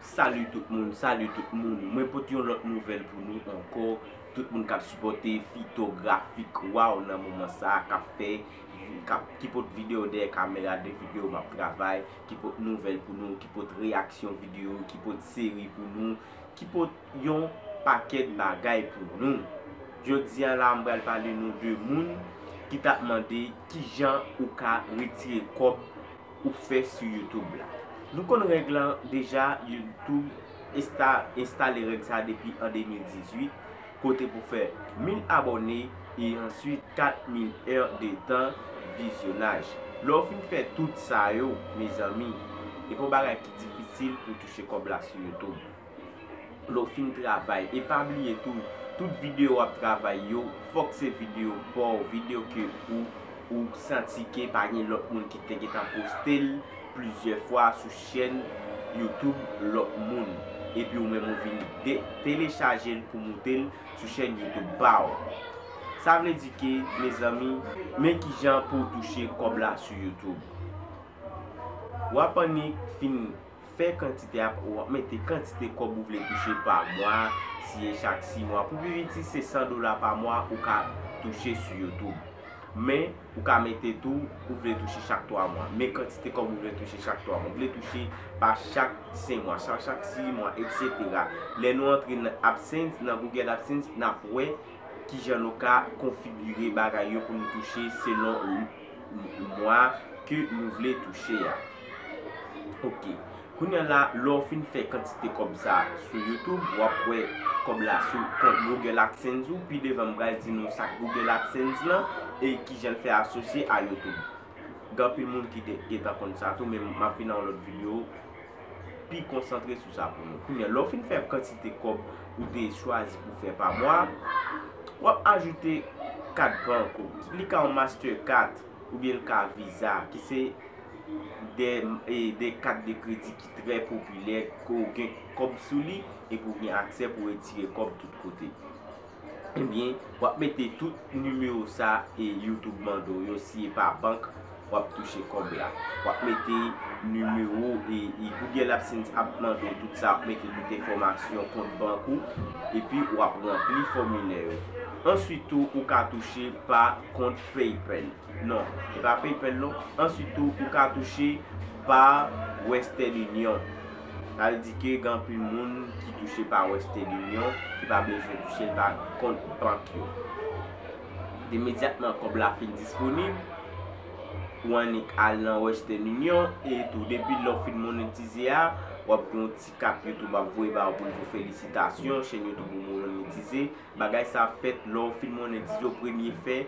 Salut tout moun, salut tout moun, mwen pot yon lòt nouvèl pou nou ankò, tout moun kap sipòte fitografik waw nan moman sa kap fè, ki pot video dèyè kamera de video map travay, ki pot nouvèl pou nou, ki pot reyaksyon video, ki pot seri pou nou, ki pot. yon pakèt bagay pou nou. Jodi a la m pral pale nou de moun ki tap mande kijan ou ka retire kòb ou fè sou YouTube la. Nou konn règ lan deja YouTube enstale règ sa depi an 2018 kote pou fè 1000 abòne e answit 4000 è de tan vizyonaj. Lè w fin fè tout sa yo mezanmi e pa yon bagay ki difisil pou touche kòb la sou YouTube. Lè'w fin travay e pa bliye tou tout video wap travay yo fòk se video paw video ke ou ou santi ke pa gen lòt moun ki te gentan poste'l plizyè fwa sou chèn YouTube lòt moun epi ou menm ou vin de telechaje'l pou moute'l sou chèn YouTube pa'w sa vle di ke mezanmi men kijan pou'w touche kòb la sou YouTube wap annik fin. Fè kantite ap ou ap mete kantite kòb ou vle touche pa mwa, si e chak 6 mwa. Pou pi piti se 100 dola pa mwa ou ka touche sou YouTube. Men, ou ka mete tou ou vle touche chak 3 mwa. Men kantite kòb ou vle touche chak 3 mwa. Ou vle touche pa chak 5 mwa, pa chak 6 mwa, etc. Lè nou antre nan AdSense, nan Google AdSense, n ap wè kijan nou ka konfigire bagay yo pou nou touche selon. mwa ke nou vle touche a. Ok. Kounya la, lè w fin fè kantite kòb sa sou YouTube, w ap wè kòb la sou kont Google AdSense ou. Pi devan m pral di nou sak Google AdSense lan e kijan l fè asosye a YouTube. Gen anpil moun ki te gentan konn sa tou men m ap vin nan yon lòt video. pi konsantre sou sa pou nou. Kounya lè w fin fè kantite kòb ou te chwazi pou fè pa mwa, w ap ajoute kat bank ou. Li ka yon Mastercard oubyen li ka Visa ki se 2 kat de kredi ki trè popilè ke w gen kòb sou li epi w gen aksè pou w retire kòb tout kote. ebyen wap mete tout nimewo sa e YouTube mande w yo si epa bank wap touche kòb la wap mete nimewo e Google AdSense ap mande w tout sa wap mete tout enfòmasyon kont bank ou epi wap ranpli fòmilè yo answit tou ou ka touche pa kont PayPal non epa PayPal non answit tou ou ka touche pa Western Union. Pral di ke gen anpil moun ki touche pa Western Union ki pa bezwen touche l pa kont bank yo. Imedyatman kòb la fin disponib, ou annik al nan Western Union e tou depi lè w fin monetize a, w ap gen yon ti kat YouTube ap voye ba w pou l di w felisitasyon, chèn YouTube ou monetize. Bagay sa ap fèt lè w fin monetize w premye fè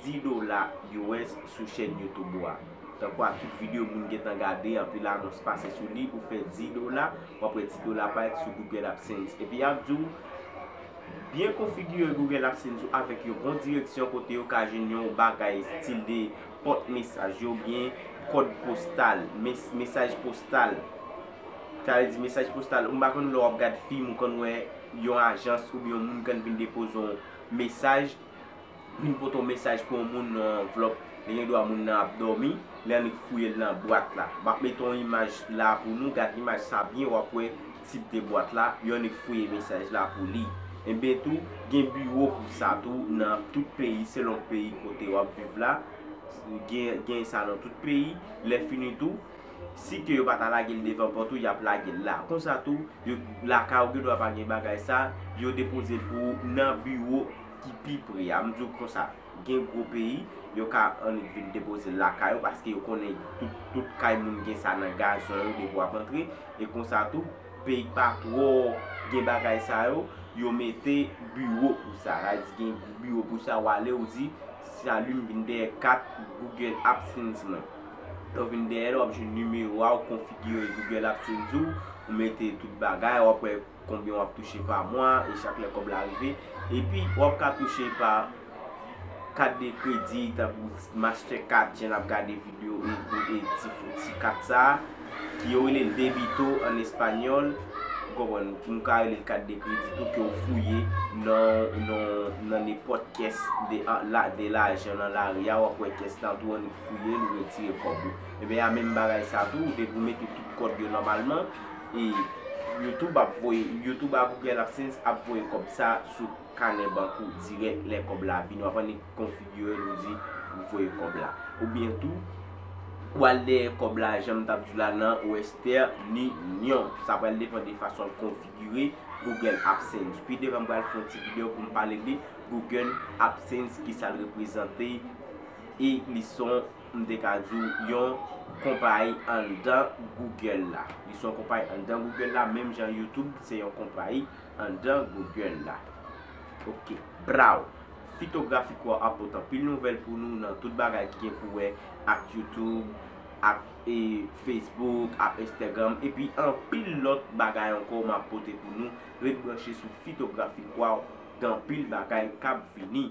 10 dola US sou chèn YouTube ou a. Tankou ak tout video moun gentan gade anpil anons pase sou li ou fè 10 dola wap wè ti dola parèt sou Google AdSense epi yap diw byen konfigire Google AdSense ou avèk yon bon direksyon kote yo ka jwenn yon bagay stil de pòt mesaj yo oubyen kòd postal, mesaj postal sa vle di mesaj postal ou m pa konn lè wap gad film ou konn wè yon ajans oubyen yon moun konn vin depoze yon mesaj Vin pote yon mesaj pou yon moun nan yon anvlòp, lè gen dwa moun nan ap dòmi, li annik fouye l nan bwat la. M ap mete yon imaj la a pou nou, gad imaj sa a byen w ap wè tip de bwat la, yo annik fouye mesaj la pou li. Enben tou, gen biwo pou sa tou nan tout peyi selon peyi kote w ap viv la, gen sa nan tout peyi, lèfini tou, si ke yo pa ta lage l devan pòt ou, y ap lage l la. Konsa tou, lakay ou gen dwa pa gen bagay sa, yo depoze l pou ou nan biwo. ki pi pre a, m di w konsa, gen gwo peyi, yo ka annik vin depoze l lakay yo paske yo konnen tout kay moun gen sa nan gazon yo depi w ap antre, e konsa tou, peyi k pa twò gen bagay sa yo, yo mete biwo pou sa, sa vle di gen biwo pou sa, w ale w di, Salut m vin dèyè kat Google AdSense mwen, lè w vin dèyè l, w ap jwenn nimewo a, w konfigire Google AdSense ou, ou mete tout bagay, w ap wè. Konbyen wap touche pa mwa e chak lè kòb la rive. Epi wap ka touche pa kat de kredi tankou master card jan nap gade video e ti kat sa ki yo rele l debito an espanyòl ou konprann nou ka rele l kat de kredi tou ke w fouye nan nenpòt kès de lajan nan lari a wap wè kès la tou an ou fouye l ou retire kòb ou. Ebyen a menm bagay sa tou depi w mete tout kòd yo nòmalman. e YouTube ap voye YouTube a Google AdSense ap voye kòb sa sou kanè bank ou dirèk lè kòb la vini wap annik konfigire l ou di ou voye kòb la oubyen tou ou al dèyè kòb la janm tap di w la nan western union sa pral depan de fason ou konfigire Google AdSense pi devan m pral fè yon ti video pou m pale de Google AdSense kisa l reprezante e li son m te ka di w, yon konpayi anndan Google la. Li se yon konpayi anndan Google la, menm jan YouTube se yon konpayi anndan Google la. Ok. Braw! Fitografik ou a ap pot anpil nouvèl pou nou nan tout bagay ki gen pou wè ak YouTube, ak e Facebook, ak Instagram, epi anpil lòt bagay ankò m ap pote pou nou. Ret branche sou Fitografik ou a, gen anpil bagay k ap vini.